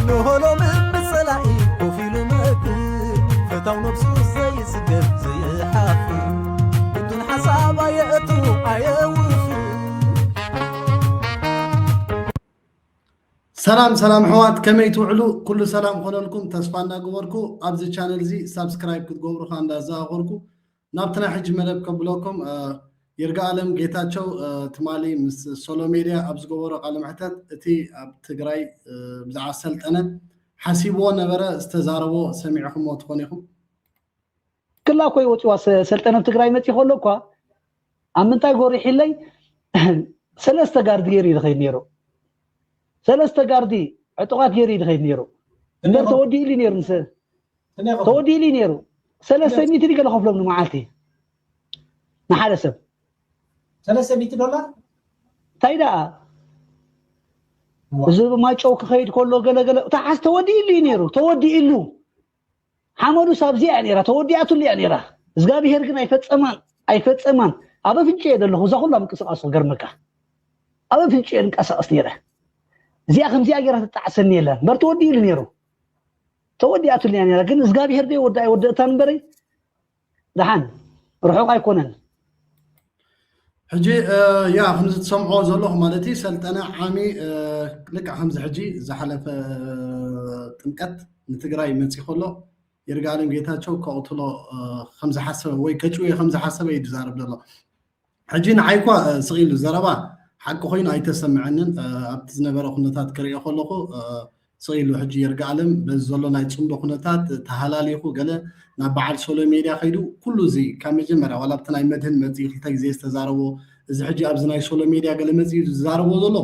እንሆ ሎሚ ብጸላኢ ኮፍ ኢሉ መክር ፈታው ነብሱ ዘይጽገብ ዘይሓፍር ብዱን ሓሳብ ኣየእቱ ኣየውፍር ሰላም ሰላም ሕዋት ከመይ ትውዕሉ ኩሉ ሰላም ኮነልኩም ተስፋ እንዳገበርኩ ኣብዚ ቻነል እዚ ሳብስክራይብ ክትገብሩ ከ እንዳዘኻኸርኩ ናብቲ ናይ ሕጂ መደብ ከብለኩም ይርጋኣለም ጌታቸው ትማሊ ምስ ሶሎ ሜድያ ኣብ ዝገበሮ ቃለ መሕተት እቲ ኣብ ትግራይ ብዛዕባ ሰልጠነ ሓሲብዎ ነበረ ዝተዛረቦ ሰሚዕኹምዎ ትኾኑ ኢኹም ክላ እኮ ይወፅዋ ሰልጠነ ኣብ ትግራይ መፂ ከሎ እኳ ኣብ ምንታይ ጎሪሒለይ ሰለስተ ጋርዲ ገይሩ እዩ ዝኸይድ ነይሩ ሰለስተ ጋርዲ ዕጡቓት ገይሩ እዩ ዝኸይድ ነይሩ እምበር ተወዲኡሉ ነይሩ ተወዲኡሉ እዩ ነይሩ ሰለስተ ሚእቲ ድዩ ገለ ከፍሎም ንመዓልቲ ንሓደ ሰብ ሰለስተ ሚእቲ ዶላር እንታይ ደኣ እዚ ማጨው ክኸይድ ከሎ ገለገለ ተሓዝ ተወዲኡሉ እዩ ነይሩ ተወዲኡሉ ሓመዱስ ኣብዚኣ እያ ነይራ ተወዲኣትሉ እያ ነይራ እግዚኣብሄር ግን ኣይፈፀማን ኣይፈፀማን ኣብ ኣፍንጭ እየ ዘለኹ እዛ ኩላ ምንቅስቃስ ክገርመካ ኣብ ኣፍንጭ እየ ንቀሳቀስ ነይረ እዚኣ ከምዚኣ ገይራ ትጣዕሰኒ የለን በር ተወዲኡሉ ነይሩ ተወዲኣትሉ እያ ነራ ግን እግዚኣብሄር ዶ ወዲ ኣይወደእታን እምበረይ ደሓን ርሑቕ ኣይኮነን ሕጂ ያ ከምዚ ትሰምዖ ዘለኹ ማለት እዩ ሰልጠነ ዓሚ ልክዕ ከምዚ ሕጂ ዝሓለፈ ጥምቀት ንትግራይ መፂ ከሎ ይርጋለም ጌታቸው ከቕትሎ ከምዝሓሰበ ወይ ከጭውዮ ከምዝሓሰበ እዩ ዝዛረብ ዘሎ ሕጂ ንዓይኳ ስቕ ኢሉ ዘረባ ሓቂ ኮይኑ ኣይተሰምዐንን ኣብቲ ዝነበረ ኩነታት ክርእዮ ከለኹ ስቕ ኢሉ ሕጂ የርጋኣለም በዚ ዘሎ ናይ ፅምዶ ኩነታት ተሃላሊኹ ገለ ናብ በዓል ሶሎ ሜድያ ከይዱ ኩሉ እዚ ካብ መጀመርያ ዋላ ኣብቲ ናይ መድህን መፅኢ ክልተ ግዜ ዝተዛረቦ እዚ ሕጂ ኣብዚ ናይ ሶሎ ሜድያ ገለ መፅኢ ዝዛረቦ ዘሎ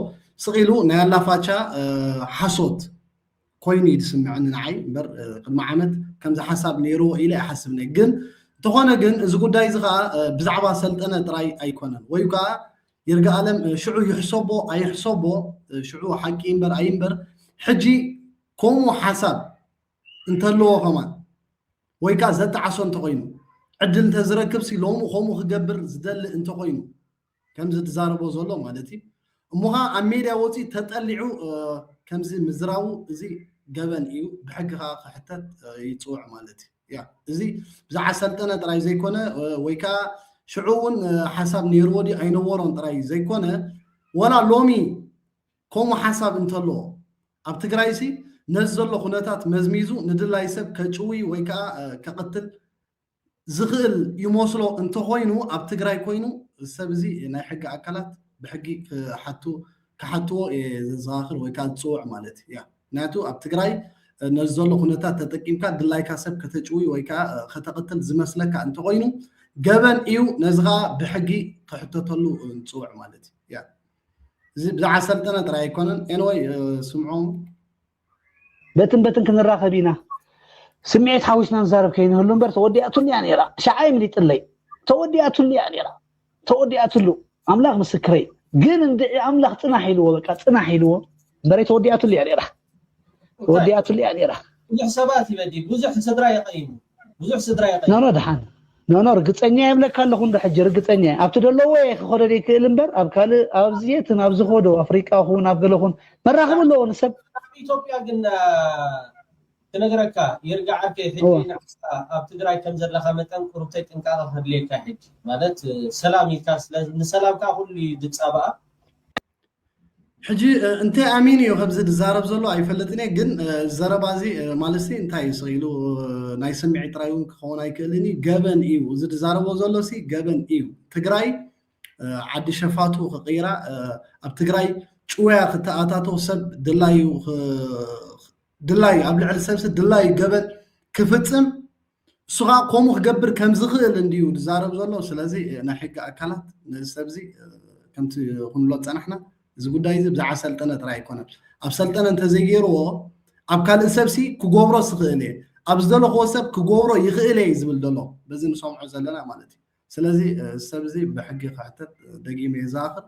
ስቕ ኢሉ ናይ ኣላፋቻ ሓሶት ኮይኑ እዩ ዝስምዐኒ ንዓይ እምበር ቅድሚ ዓመት ከምዚ ሓሳብ ነይርዎ ኢለ ኣይሓስብ ነይ ግን እንተኾነ ግን እዚ ጉዳይ እዚ ከዓ ብዛዕባ ሰልጠነ ጥራይ ኣይኮነን ወይ ከዓ ይርጋኣለም ሽዑ ይሕሰቦ ኣይሕሰቦ ሽዑ ሓቂ እምበር ኣይምበር ሕጂ ከምኡ ሓሳብ እንተለዎ ከማን ወይ ከዓ ዘጣዓሶ እንተኮይኑ ዕድል እንተዝረክብ ሲ ሎሚ ከምኡ ክገብር ዝደሊ እንተኮይኑ ከምዚ ትዛረቦ ዘሎ ማለት እዩ እሞ ከኣ ኣብ ሜድያ ወጺኡ ተጠሊዑ ከምዚ ምዝራቡ እዚ ገበን እዩ ብሕጊ ከኣ ክሕተት ይጽውዕ ማለት እዩ ያ እዚ ብዛዕባ ሰልጠነ ጥራይ ዘይኮነ ወይ ከኣ ሽዑ እውን ሓሳብ ነይርዎ ድዩ ኣይነበሮን ጥራይ ዘይኮነ ወላ ሎሚ ከምኡ ሓሳብ እንተሎ ኣብ ትግራይሲ ነዚ ዘሎ ኩነታት መዝሚዙ ንድላይ ሰብ ከጭውይ ወይ ከዓ ከቕትል ዝኽእል ይመስሎ እንተኾይኑ ኣብ ትግራይ ኮይኑ እዚ ሰብ እዚ ናይ ሕጊ ኣካላት ብሕጊ ክሓቱ ክሓትዎ እየ ዘዘኻኽር ወይ ከዓ ዝፅውዕ ማለት እዩ ያ ምክንያቱ ኣብ ትግራይ ነዚ ዘሎ ኩነታት ተጠቂምካ ድላይካ ሰብ ከተጭውይ ወይ ከዓ ከተቕትል ዝመስለካ እንተኾይኑ ገበን እዩ ነዚ ከዓ ብሕጊ ክሕተተሉ ንፅውዕ ማለት እዩ ያ እዚ ብዛዕባ ሰልጠነ ጥራይ ኣይኮነን ኤንወይ ስምዖም በትን በትን ክንራኸብ ኢና ስምዒት ሓዊስና ንዛረብ ከይንህሉ እምበር ተወዲኣትሉ እያ ነይራ ሸዓ ይምሊጥለይ ተወዲኣትሉ እያ ነይራ ተወዲኣትሉ ኣምላኽ ምስክረይ ግን እንድዒ ኣምላኽ ፅናሕ ኢልዎ በቃ ፅናሕ ኢልዎ እምበረይ ተወዲኣትሉ እያ ነይራ ተወዲኣትሉ እያ ነይራ ብዙሕ ሰባት ይበዲ ብዙሕ ስድራ የቐይሙ ብዙሕ ስድራ ይቀይ ኖኖ ድሓን ኖኖ ርግጸኛ የብለካ ኣለኹ እንዶ ሕጂ ርግጸኛ ኣብቲ ደለዎ እየ ክኸዶ ዘይክእል እምበር ኣብ ካልእ ኣብዚ የትን ኣብዚ ኸዶ ኣፍሪቃ ኹን ኣብ ገለ ኹን መራኽብ ኣለዎ ንሰብ ኢትዮጵያ ግን ክነግረካ ይርጋ ዓርከይ ሕጂ ንዓስካ ኣብ ትግራይ ከም ዘለካ መጠን ቁርብተይ ጥንቃቐ ከድልየካ ሕጂ ማለት ሰላም ኢልካ ስለ ንሰላም ከዓ ኩሉ እዩ ዝጻባኣ ሕጂ እንታይ ኣሚኑ እዩ ከምዚ ዝዛረብ ዘሎ ኣይፈልጥን እየ ግን ዘረባ እዚ ማለትሲ እንታይ እዩ ኢሉ ናይ ስምዒት ጥራይ እውን ክኸውን ኣይክእልን እዩ ገበን እዩ እዚ ዝዛረቦ ዘሎሲ ገበን እዩ ትግራይ ዓዲ ሸፋቱ ክቕይራ ኣብ ትግራይ ጭወያ ክተኣታተው ሰብ ድላዩ ድላዩ ኣብ ልዕሊ ሰብሲ ድላዩ ገበን ክፍፅም እሱ ከኣ ከምኡ ክገብር ከም ዝኽእል እንድዩ ዝዛረብ ዘሎ። ስለዚ ናይ ሕጊ ኣካላት ነዚ ሰብዚ ከምቲ ክንብሎ ዝጸናሕና እዚ ጉዳይ እዚ ብዛዕባ ሰልጠነ ጥራይ ኣይኮነን። ኣብ ሰልጠነ እንተዘይገይርዎ ኣብ ካልእ ሰብሲ ክገብሮ ዝኽእል እየ፣ ኣብ ዝደለኽዎ ሰብ ክገብሮ ይኽእል እየ እዩ ዝብል ዘሎ። በዚ ንሰምዖ ዘለና ማለት እዩ። ስለዚ እዚ ሰብ እዚ ብሕጊ ክሕተት ደጊመ እየ ዝኣኽል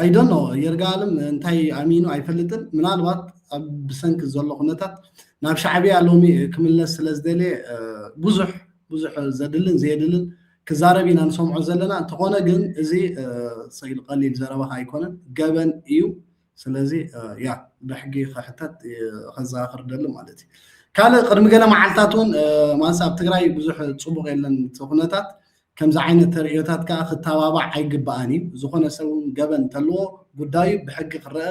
ኣይ ዶንት ኖ ይርጋኣለም እንታይ ኣሚኑ ኣይፈልጥን ምናልባት ኣብ ብሰንኪ ዘሎ ኩነታት ናብ ሻዕብያ ሎሚ ክምለስ ስለ ዝደለየ ብዙሕ ብዙሕ ዘድልን ዘየድልን ክዛረብ ኢና ንሰምዖ ዘለና እንተኾነ ግን እዚ ስኢል ቀሊል ዘረባኻ ኣይኮነን ገበን እዩ ስለዚ ያ ብሕጊ ክሕተት ከዘካክር ደሊ ማለት እዩ ካልእ ቅድሚ ገለ መዓልትታት እውን ማንስ ኣብ ትግራይ ብዙሕ ፅቡቅ የለን እቲ ኩነታት ከምዚ ዓይነት ተርእዮታት ከዓ ክተባባዕ ኣይግባኣን እዩ ዝኾነ ሰብ እውን ገበን እንተለዎ ጉዳዩ ብሕጊ ክረአ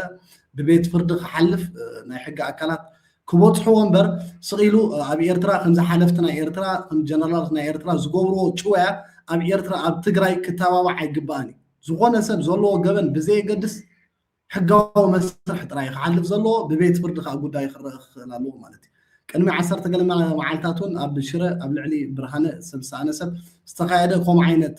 ብቤት ፍርዲ ክሓልፍ ናይ ሕጊ ኣካላት ክበፅሕዎ እምበር ስቕ ኢሉ ኣብ ኤርትራ ከምዚ ሓለፍቲ ናይ ኤርትራ ከም ጀነራላት ናይ ኤርትራ ዝገብርዎ ጭወያ ኣብ ኤርትራ ኣብ ትግራይ ክተባባዕ ኣይግባኣን እዩ ዝኾነ ሰብ ዘለዎ ገበን ብዘየገድስ ሕጋዊ መስርሕ ጥራይ እዩ ክሓልፍ ዘለዎ፣ ብቤት ፍርዲ ከኣ ጉዳዩ ክረኣ ክኽእል ኣለዎ ማለት እዩ። ቅድሚ ዓሰርተ ገለ መዓልታት እውን ኣብ ሽረ ኣብ ልዕሊ ብርሃነ ሰብ ዝሰኣነ ሰብ ዝተኻየደ ከምኡ ዓይነት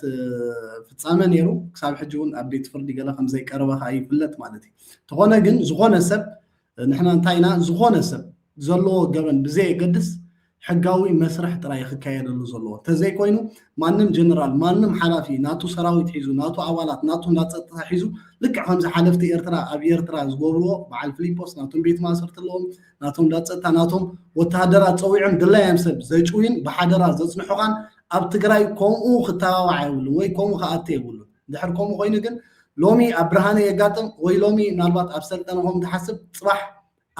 ፍጻመ ነይሩ። ክሳብ ሕጂ እውን ኣብ ቤት ፍርዲ ገለ ከም ዘይቀረበ ከኣ ይፍለጥ ማለት እዩ። እንተኾነ ግን ዝኾነ ሰብ ንሕና እንታይ ኢና ዝኾነ ሰብ ዘለዎ ገበን ብዘየገድስ ሕጋዊ መስርሕ ጥራይ ክካየደሉ ዘለዎ ተዘይኮይኑ ማንም ጀነራል ማንም ሓላፊ ናቱ ሰራዊት ሒዙ ናቱ ኣባላት ናቱ እንዳ ፀጥታ ሒዙ ልክዕ ከምዚ ሓለፍቲ ኤርትራ ኣብ ኤርትራ ዝገብርዎ በዓል ፍሊጶስ ናቶም ቤት ማእሰርቲ ኣለዎም ናቶም እንዳ ፀጥታ ናቶም ወተሃደራት ፀዊዖም ድላዮም ሰብ ዘጭውዩን ብሓደራ ዘፅንሑኻን ኣብ ትግራይ ከምኡ ክተባባዕ የብሉ ወይ ከምኡ ክኣተ የብሉ ድሕር ከምኡ ኮይኑ ግን ሎሚ ኣብ ብርሃነ የጋጥም ወይ ሎሚ ምናልባት ኣብ ሰልጠነ ከም ትሓስብ ፅባሕ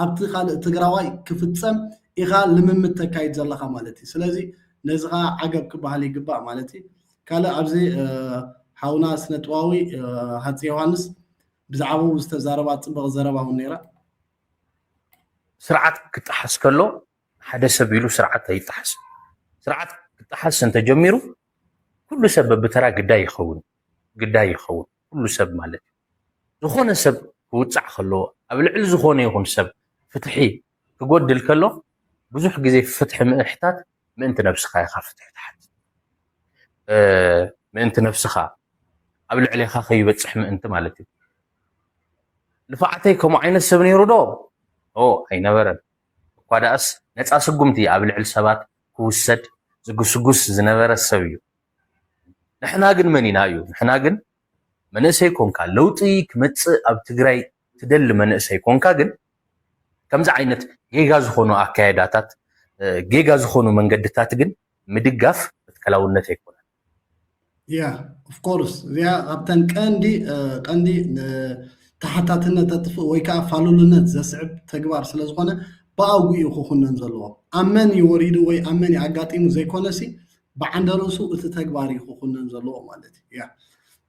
ኣብቲ ካልእ ትግራዋይ ክፍፀም ኢኻ ልምምድ ተካይድ ዘለኻ ማለት እዩ ስለዚ ነዚ ከዓ ዓገብ ክበሃል ይግባእ ማለት እዩ ካልእ ኣብዚ ሓውና ስነጥባዊ ሃፀ ዮሃንስ ብዛዕባኡ ዝተዛረባ ፅብቕ ዘረባ እውን ነይራ ስርዓት ክጠሓስ ከሎ ሓደ ሰብ ኢሉ ስርዓት ኣይጣሓስ ስርዓት ክጣሓስ እንተጀሚሩ ኩሉ ሰብ በብተራ ግዳይ ይኸውን ግዳይ ይኸውን ኩሉ ሰብ ማለት ዝኾነ ሰብ ክውፃዕ ከለዎ ኣብ ልዕሊ ዝኾነ ይኹን ሰብ ፍትሒ ክጎድል ከሎ ብዙሕ ግዜ ፍትሒ ምእሕታት ምእንቲ ነብስኻ ኢኻ ፍትሒ ትሓት ምእንቲ ነብስኻ ኣብ ልዕሌኻ ከይበፅሕ ምእንቲ ማለት እዩ ልፋዓተይ ከምኡ ዓይነት ሰብ ነይሩ ዶ ኣይነበረን እኳደኣስ ነጻ ስጉምቲ ኣብ ልዕሊ ሰባት ክውሰድ ዝግስጉስ ዝነበረ ሰብ እዩ። ንሕና ግን መን ኢና እዩ ንሕና ግን መንእሰይ ኮንካ ለውጢ ክመጽእ ኣብ ትግራይ ትደሊ መንእሰይ ኮንካ ግን ከምዚ ዓይነት ጌጋ ዝኾኑ ኣካየዳታት ጌጋ ዝኾኑ መንገድታት ግን ምድጋፍ መትከላውነት ኣይኮነን። ያ ኦፍ ኮርስ እዚኣ ካብተን ቀንዲ ቀንዲ ተሓታትነት ተጥፍእ ወይ ከዓ ፋሉልነት ዘስዕብ ተግባር ስለ ዝኾነ ብኣጉ እዩ ክኹነን ዘለዎ ኣብ መን እዩ ወሪዱ ወይ ኣብ መን እዩ ኣጋጢሙ ዘይኮነሲ ብዓንደ ርእሱ እቲ ተግባር እዩ ክኹነን ዘለዎ ማለት እዩ ያ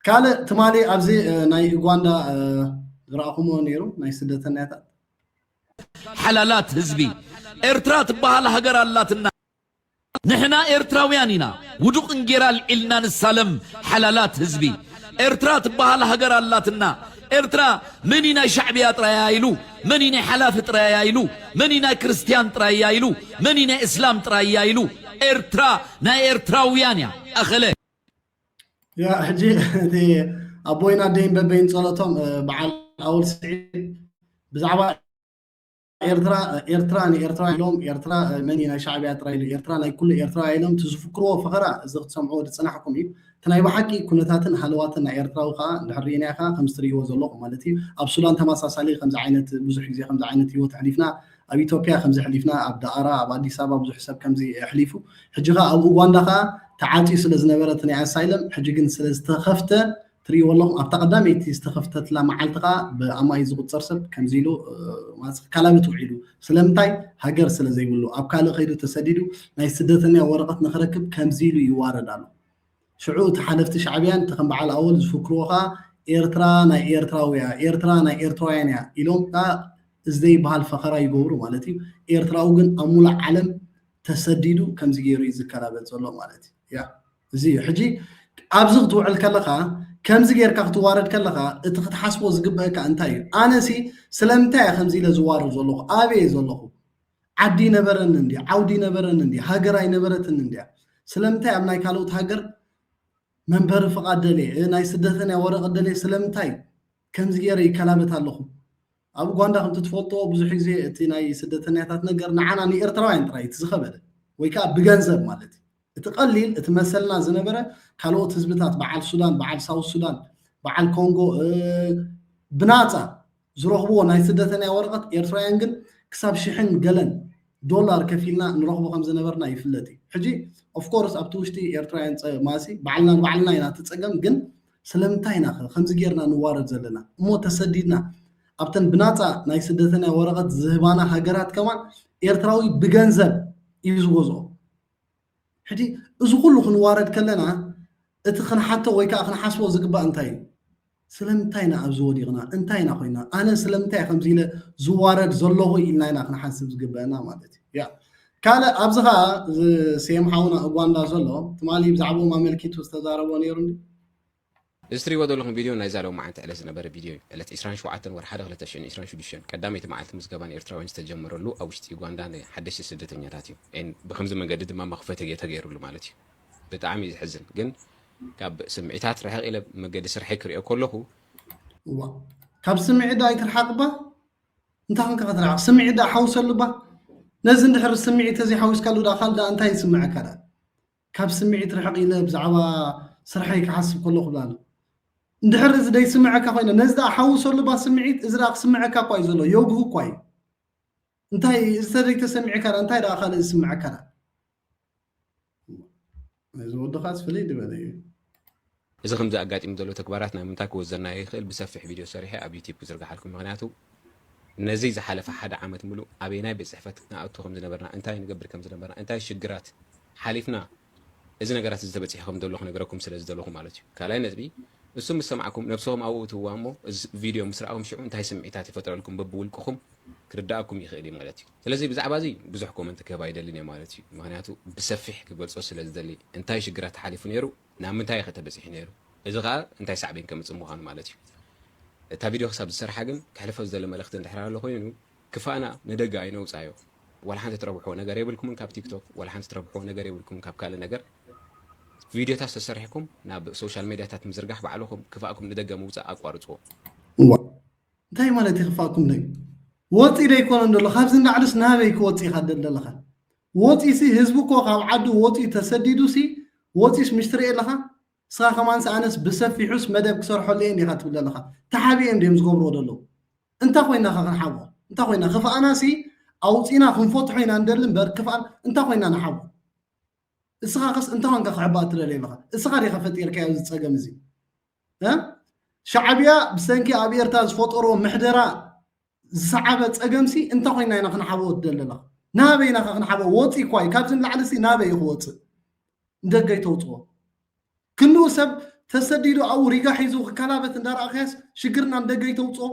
ካልእ ትማሊ ኣብዚ ናይ ኡጋንዳ ዝረኣኹምዎ ነይሩ ናይ ስደተኛታት ሓላላት ህዝቢ ኤርትራ ትበሃል ሃገር ኣላትና ንሕና ኤርትራውያን ኢና ውዱቅ እንጌራ ኣልዒልና ንሳለም ሓላላት ህዝቢ ኤርትራ ትባሃል ሃገር ኣላትና ኤርትራ መንዩ ናይ ሻዕብያ ጥራይ እያ ኢሉ መንዩ ናይ ሓላፊ ጥራይ እያ ኢሉ መንዩ ናይ ክርስትያን ጥራይ እያ ኢሉ መንዩ ናይ እስላም ጥራይ እያ ኢሉ ኤርትራ ናይ ኤርትራውያን እያ ኣኸለ። ያ ሕጂ እቲ ኣቦይን ኣደይን በበይን ጸሎቶም በዓል ኣወል ስዒድ ብዛዕባ ኤርትራ ኤርትራ ንኤርትራ ኢሎም ኤርትራ መን እዩ ናይ ሻዕብያ ጥራይ ኢሉ ኤርትራ ናይ ኩሉ ኤርትራውያ ኢሎም እቲ ዝፍክርዎ ፈኸራ እዚ ክትሰምዕዎ ዝጸናሕኩም እዩ እቲ ናይ ብሓቂ ኩነታትን ሃለዋትን ናይ ኤርትራዊ ከኣ እንድሕር ርኢናዮ ከኣ ከምዚ ትርእይዎ ዘለኹም ማለት እዩ ኣብ ሱዳን ተመሳሳሊ ከምዚ ዓይነት ብዙሕ ግዜ ከምዚ ዓይነት ህይወት ኣሕሊፍና ኣብ ኢትዮጵያ ከምዚ ኣሕሊፍና ኣብ ደኣራ ኣብ ኣዲስ ኣበባ ብዙሕ ሰብ ከምዚ ኣሕሊፉ ሕጂ ከኣ ኣብ ኡጓንዳ ከኣ ተዓጽዩ ስለ ዝነበረ እቲ ናይ ኣሳይለም ሕጂ ግን ስለ ዝተኸፍተ ትርእይዎ ኣለኹም ኣብታ ቀዳመይቲ ዝተኸፍተትላ መዓልቲ ከዓ ብኣማኢት ዝቁፀር ሰብ ከምዚ ኢሉ ካላበት ውዒሉ ስለምንታይ ሃገር ስለ ዘይብሉ ኣብ ካልእ ከይዱ ተሰዲዱ ናይ ስደተኛ ወረቐት ንክረክብ ከምዚ ኢሉ ይዋረድ ኣሎ ሽዑ እቲ ሓለፍቲ ሻዕብያን እቲ ከም በዓል ኣወል ዝፍክርዎ ከዓ ኤርትራ ናይ ኤርትራውያ ኤርትራ ናይ ኤርትራውያን እያ ኢሎም ከዓ እዚ ዘይበሃል ፈኸራ ይገብሩ ማለት እዩ ኤርትራዊ ግን ኣብ ሙሉእ ዓለም ተሰዲዱ ከምዚ ገይሩ እዩ ዝከላበጥ ዘሎ ማለት እዩ ያ እዚ እዩ ሕጂ ኣብዚ ክትውዕል ከለኻ ከምዚ ጌርካ ክትዋረድ ከለኻ እቲ ክትሓስቦ ዝግበአካ እንታይ እዩ ኣነሲ ስለምንታይ እየ ከምዚ ኢለ ዝዋረድ ዘለኹ ኣበይ እየ ዘለኹ ዓዲ ነበረኒ እንዲ ዓውዲ ነበረኒ እንዲ ሃገር ኣይነበረትን እንዲያ ስለምንታይ ኣብ ናይ ካልኦት ሃገር መንበሪ ፍቓድ ደልየ ናይ ስደተኛ ወረቐት ደልየ ስለምንታይ ከምዚ ገይረ ይከላበት ኣለኹ ኣብ ኡጋንዳ ከምቲ ትፈልጦ ብዙሕ ግዜ እቲ ናይ ስደተኛታት ነገር ንዓና ንኤርትራውያን ጥራይ እቲ ዝኸበደ ወይ ከዓ ብገንዘብ ማለት እዩ እቲ ቀሊል እቲ መሰልና ዝነበረ ካልኦት ህዝብታት በዓል ሱዳን በዓል ሳውት ሱዳን በዓል ኮንጎ ብናፃ ዝረኽብዎ ናይ ስደተኛ ወረቐት ኤርትራውያን ግን ክሳብ ሽሕን ገለን ዶላር ከፊልና ንረኽቦ ከም ዝነበርና ይፍለጥ እዩ ሕጂ ኦፍኮርስ ኣብቲ ውሽጢ ኤርትራውያን ማሲ ባዕልና ንባዕልና ኢና ትፀገም ግን ስለምንታይ ኢናኸ ከምዚ ጌርና ንዋረድ ዘለና እሞ ተሰዲድና ኣብተን ብናጻ ናይ ስደተንያ ወረቐት ዝህባና ሃገራት ከማን ኤርትራዊ ብገንዘብ እዩ ዝገዝኦ ሕጂ እዚ ኩሉ ክንዋረድ ከለና እቲ ክንሓቶ ወይ ከዓ ክንሓስቦ ዝግባእ እንታይ እዩ ስለምንታይ ኢና ኣብዚ ወዲቕና እንታይ ኢና ኮይና ኣነ ስለምንታይ ከምዚ ኢለ ዝዋረድ ዘለኹ ኢልና ኢና ክንሓስብ ዝግበአና ማለት እዩ ያ ካልእ ኣብዚ ከኣ ዝስየም ሓውና ኡጓንዳ ዘሎ ትማሊ ብዛዕብኦም ኣመልኪቱ ዝተዛረቦ ነይሩ እንድዩ። እዚ ትሪእዎ ዘለኹም ቪድዮ ናይዛ ሎሚ መዓልቲ ዕለት ዝነበረ ቪድዮ እዩ። ዕለት ዕስራን ሸውዓተን ወርሓ ሓደ ክልተ ሽሕን ዕስራን ሽዱሽተን ቀዳመይቲ መዓልቲ ምዝገባ ንኤርትራውያን ዝተጀመረሉ ኣብ ውሽጢ ኡጓንዳ ንሓደሽቲ ስደተኛታት እዩ። ን ብኸምዚ መንገዲ ድማ መኽፈ ተጌ ተገይሩሉ ማለት እዩ። ብጣዕሚ እዩ ዘሕዝን ግን ካብ ስምዒታት ርሕቕ ኢለ መገዲ ስርሐይ ክሪኦ ከለኹ እዋእ ካብ ስምዒት ዶ ኣይትርሓቕባ? እንታይ ኮንካ ከተላዕል ስምዒት ደኣ ሓውሰሉ እባ ነዚ እንድሕር ስምዒት ተዘይሓዊስካሉ ደኣ ካልእ ደኣ እንታይ ይስምዐካ ደኣ ካብ ስምዒት ርሕቕ ኢለ ብዛዕባ ስርሐይ ክሓስብ ከለኹ ብላ ኣሎ እንድሕር እዚ ደይስምዐካ ኮይነ ነዚ ደኣ ሓውሰሉ እባ ስምዒት እዚ ደኣ ክስምዐካ እኳ እዩ ዘሎ ዮግሁ እኳ እዩ እንታይ እዚ ተዘይተሰሚዕካ ደኣ እንታይ ደኣ ካልእ ዝስምዐካ ደኣ እዚ ወድኻስ ፍልይ ዝበለ እዩ። እዚ ከምዚ ኣጋጢሙ ዘሎ ተግባራት ናብ ምንታይ ክወዘናዮ ይኽእል ብሰፊሕ ቪድዮ ሰሪሐ ኣብ ዩቲብ ክዝርግሓልኩም ምኽንያቱ ነዚ ዝሓለፈ ሓደ ዓመት ምሉእ ኣበየናይ ቤት ጽሕፈት ንኣቱ ከም ዝነበርና እንታይ ንገብር ከም ዝነበርና እንታይ ሽግራት ሓሊፍና እዚ ነገራት እዚ ተበጺሑ ከም ዘሎ ክነገረኩም ስለ ዝደለኹ ማለት እዩ ካልኣይ ነጥቢ እሱ ምስ ሰማዕኩም ነብስኹም ኣብኡ እትዋ እሞ እዚ ቪድዮ ምስ ረኣኹም ሽዑ እንታይ ስምዒታት ይፈጥረልኩም በብውልቅኹም ክርዳኣኩም ይኽእል እዩ ማለት እዩ ስለዚ ብዛዕባ እዚ ብዙሕ ኮመንት ክህብ ኣይደልን እየ ማለት እዩ ምኽንያቱ ብሰፊሕ ክገልጾ ስለ ዝደሊ እንታይ ሽግራት ተሓሊፉ ነይሩ ናብ ምንታይ ከ ተበጺሑ ነይሩ እዚ ከኣ እንታይ ሳዕቤን ከምጽእ ምዃኑ ማለት እዩ እታ ቪድዮ ክሳብ ዝሰርሓ ግን ከሕልፎ ዝደሊ መልእኽቲ እንድሕር ኣሎ ኮይኑ ክፋእና ንደገ ኣይነውጻዮ ዋላ ሓንቲ ትረብሕዎ ነገር የብልኩምን ካብ ቲክቶክ ዋላ ሓንቲ ትረብሕዎ ነገር የብልኩምን ካብ ካልእ ነገር ቪድዮታት ዝተሰርሕኩም ናብ ሶሻል ሜድያታት ምዝርጋሕ ባዕልኹም ክፋእኩም ንደገ ምውጻእ ኣቋርጽዎ እንታይ ማለት እዩ ክፋእኩም ደዩ ወፂ ደይኮነ ደሎ ካብዚ ንላዕልስ ናበይ ክወፅ ኢኻ ደለኻ ወፂሲ ህዝቢ እኮ ካብ ዓዱ ወፂኡ ተሰዲዱሲ ወፂስ ምሽ ትርኢ ኣለኻ ንስኻ ከማንስ ኣነስ ብሰፊሑስ መደብ ክሰርሐሉ እየ እንዲኻ ትብል ኣለኻ ተሓቢኦም ድዮም ዝገብርዎ ደለዉ እንታይ ኮይና ኸ ክንሓቦ እንታይ ኮይና ክፍኣናሲ ኣውፂና ክንፈትሖ ኢና ንደሊ እምበር ክፍኣን እንታይ ኮይና ንሓቦ እስኻ ኸስ እንታይ ኮንካ ክሕባእ ትደልየ ኣለኻ እስኻ ዲኻ ፈጢርካዮ እዚ ፀገም እዚ ሻዕብያ ብሰንኪ ኣብ ኤርትራ ዝፈጠሮ ምሕደራ ዝሰዓበ ጸገምሲ እንተ ኮይና ኢና ክንሓበኦ ትደለና ናበይ ኢና ክንሓበኦ ወፂ እኳ እዩ ካብዚ ንላዕሊሲ ናበይ እዩ ክወፅእ ንደገ ይተውፅኦ ክንኡ ሰብ ተሰዲዱ ኣብኡ ሪጋ ሒዙ ክከላበት እንዳረኣኸያስ ሽግርና ንደገ ይተውፅኦ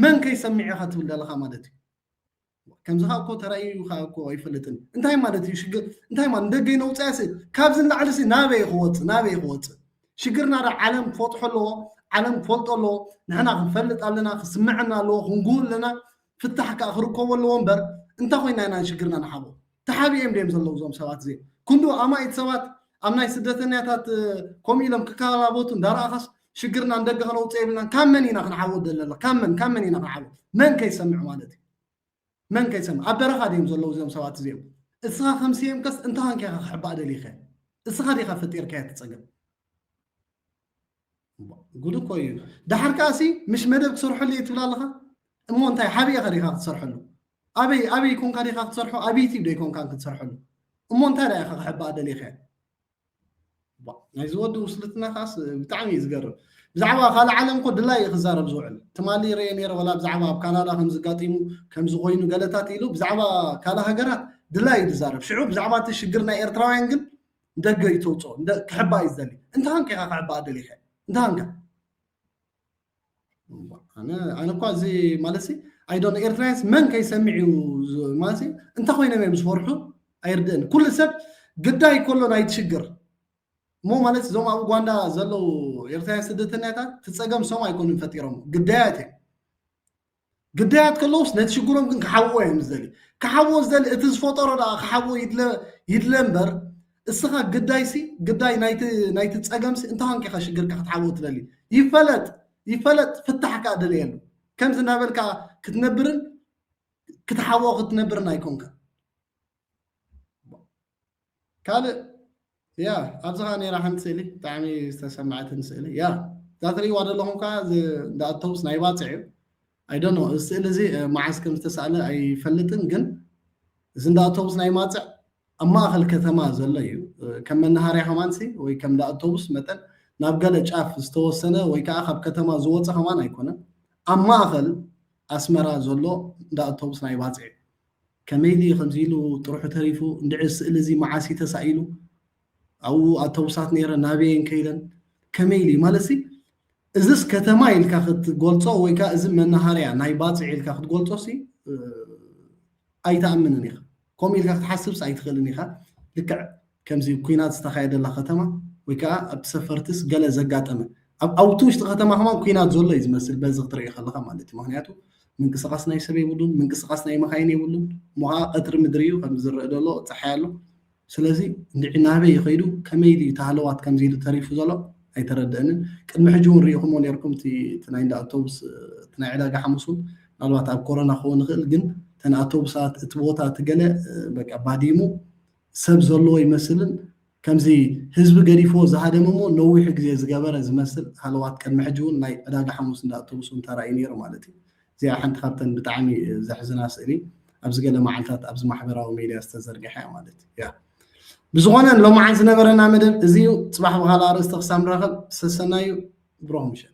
መን ከይሰሚዕ ኢኻ ትብል ዘለኻ ማለት እዩ ከምዚ ከኣ እኮ ተራእዩ ከኣ እኮ ኣይፈልጥን እንታይ ማለት እዩ ሽግር እንታይ ማለት ንደገ ነውፅኣሲ ካብዚ ንላዕሊሲ ናበይ ክወፅእ ናበይ ክወፅእ ሽግርና ዶ ዓለም ክፈጥሖ ኣለዎ ዓለም ክፈልጦ ኣለዎ ንሕና ክንፈልጥ ኣለና ክስምዐና ኣለዎ ክንጉህ ኣለና ፍታሕ ከዓ ክርከቦ ኣለዎ እምበር እንታይ ኮይና ኢና ሽግርና ንሓቦ ተሓቢኤም ድዮም ዘለዉ እዞም ሰባት እዚኦም? ክንድኡ ኣማኢት ሰባት ኣብ ናይ ስደተኛታት ከምኡ ኢሎም ክከላበቱ እንዳረኣኻስ ሽግርና ንደገ ከነውፅኦ የብልናን ካብ መን ኢና ክንዓወት ዘለና ካብ መን ካብ መን ኢና ክንዓወት መን ከይሰምዕ ማለት እዩ መን ከይሰምዕ ኣብ በረኻ ድዮም ዘለዉ እዚኦም ሰባት እዚኦም እስኻ ከም ስየምከስ እንታይ ኮንካ ኢኻ ክሕባእ ደሊኸ እስኻ ዲኻ ፈጢርካዮ ትፀገም ጉድ እኮ እዩ ዳሕር ከኣሲ ምሽ መደብ ክሰርሐሉ እየ ትብል ኣለኻ እሞ እንታይ ሓብኤ ከ ዲኻ ክትሰርሐሉ ኣበይ ኣበይ ኮንካ ዲኻ ክትሰርሖ ኣብ ዩቲብ ዶ ይኮንካ ክትሰርሐሉ እሞ እንታይ ዳኢኻ ክሕባኣ ደሊኻ ናይዚ ወዲ ውስልትና ከዓስ ብጣዕሚ እዩ ዝገርም ብዛዕባ ካልእ ዓለም ኮ ድላይ እዩ ክዛረብ ዝውዕል ትማሊ ረየ ነረ ወላ ብዛዕባ ኣብ ካናዳ ከምዝጋጢሙ ከምዝኮይኑ ገለታት ኢሉ ብዛዕባ ካልእ ሃገራት ድላይ እዩ ዝዛረብ ሽዑ ብዛዕባ እቲ ሽግር ናይ ኤርትራውያን ግን ንደገ እዩ ተውፅኦ ክሕባእ እዩ ዝደሊ እንተሃንከ ኢኻ ክሕባእ ደሊኸ እንተሃንከ ኣነ እኳ እዚ ማለት ኣይዶ ኤርትራያስ መን ከይሰሚዕ እዩ ማለት እንተ ኮይኖም እዮም ዝፈርሑ ኣይርድእን ኩሉ ሰብ ግዳይ ከሎ ናይ ትሽግር እሞ ማለት እዞም ኣብ ኡጋንዳ ዘለዉ ኤርትራውያን ስደተኛታት ትፀገም ሶም ኣይኮኑን ፈጢሮም ግዳያት እዮም ግዳያት ከለውስ ነቲ ሽግሮም ግን ክሓውዎ እዮም ዝደልዩ ክሓውዎ ዝደሊ እቲ ዝፈጠሮ ደኣ ክሓውዎ ይድለ እምበር እስኻ ግዳይሲ ግዳይ ናይቲ ፀገምሲ እንተ ኳንኪኻ ሽግርካ ክትሓውዎ ትደሊ ይፈለጥ ይፈለጥ ፍታሕ ከዓ ደልየሉ ከምዚ እናበልካ ክትነብርን ክትሓውዎ ክትነብርን ኣይኮንካ ካልእ ያ ኣብዚ ከኣ ነይራ ሓንቲ ስእሊ ብጣዕሚ ዝተሰመዐትኒ ስእሊ ያ እዛ ትርእይዋ ዘለኹም ከኣ እዚ እንዳ ኣውቶቡስ ናይ ባጽዕ እዩ ኣይደኖ እዚ ስእሊ እዚ መዓስ ከም ዝተሳእለ ኣይፈልጥን ግን እዚ እንዳ ኣውቶቡስ ናይ ማጽዕ ኣብ ማእኸል ከተማ ዘሎ እዩ ከም መናሃርያ ከማንሲ ወይ ከም እንዳ ኣውቶቡስ መጠን ናብ ገለ ጫፍ ዝተወሰነ ወይ ከዓ ካብ ከተማ ዝወፀ ከማን ኣይኮነን ኣብ ማእኸል ኣስመራ ዘሎ እንዳ ኣውቶቡስ ናይ ባጽዕ እዩ ከመይ ድዩ ከምዚ ኢሉ ጥርሑ ተሪፉ እንድዒ እዚ ስእሊ እዚ መዓስ እዩ ተሳኢሉ ኣብኡ ኣተውሳት ነይረን ናበይ እየን ከይደን ከመይ ኢሉ እዩ ማለትሲ እዝስ ከተማ ኢልካ ክትገልጾ ወይ ከዓ እዚ መናሃርያ ናይ ባፅዕ ኢልካ ክትገልጾሲ ኣይትኣምንን ኢኻ ከምኡ ኢልካ ክትሓስብስ ኣይትኽእልን ኢኻ ልክዕ ከምዚ ኩናት ዝተኻየደላ ከተማ ወይ ከኣ ኣብ ሰፈርትስ ገለ ዘጋጠመ ኣብ ኣብቲ ውሽጢ ከተማ ከማን ኩናት ዘሎ እዩ ዝመስል በዚ ክትርኢ ከለኻ ማለት እዩ ምክንያቱ ምንቅስቃስ ናይ ሰብ የብሉን ምንቅስቃስ ናይ መካይን የብሉን እሞ ከዓ ቀትሪ ምድሪ እዩ ከም ዝረእ ዘሎ ፀሓይ ኣሎ ስለዚ እንድዒ ናበይ ይኸይዱ ከመይ ድዩ ተሃለዋት ከምዚ ኢሉ ተሪፉ ዘሎ ኣይተረድአንን ቅድሚ ሕጂ እውን ርኢኹሞ ነርኩም እቲ ናይ እንዳ ኣውቶቡስ እቲ ናይ ዕዳጋ ሓሙስ እውን ምናልባት ኣብ ኮሮና ክኸውን ይኽእል ግን እተን ኣውቶቡሳት እቲ ቦታ እቲ ገለ በቃ ባዲሙ ሰብ ዘለዎ ይመስልን ከምዚ ህዝቢ ገዲፍዎ ዝሃደመ እሞ ነዊሕ ግዜ ዝገበረ ዝመስል ሃለዋት ቅድሚ ሕጂ ውን ናይ ዕዳጋ ሓሙስ እንዳ ኣውቶቡስ ውን ተራእዩ ኔሩ ማለት እዩ እዚኣ ሓንቲ ካብተን ብጣዕሚ ዘሕዝና ስእሊ ኣብዚ ገለ መዓልታት ኣብዚ ማሕበራዊ ሜድያ ዝተዘርግሐ እያ ማለት እያ ብዝኾነ ሎምዓን ዝነበረና መደብ እዚ እዩ ፅባሕ ብኻልእ ኣርእስቲ ክሳብ ንራኸብ ሰሰናዩ ብሩኽ ምሸት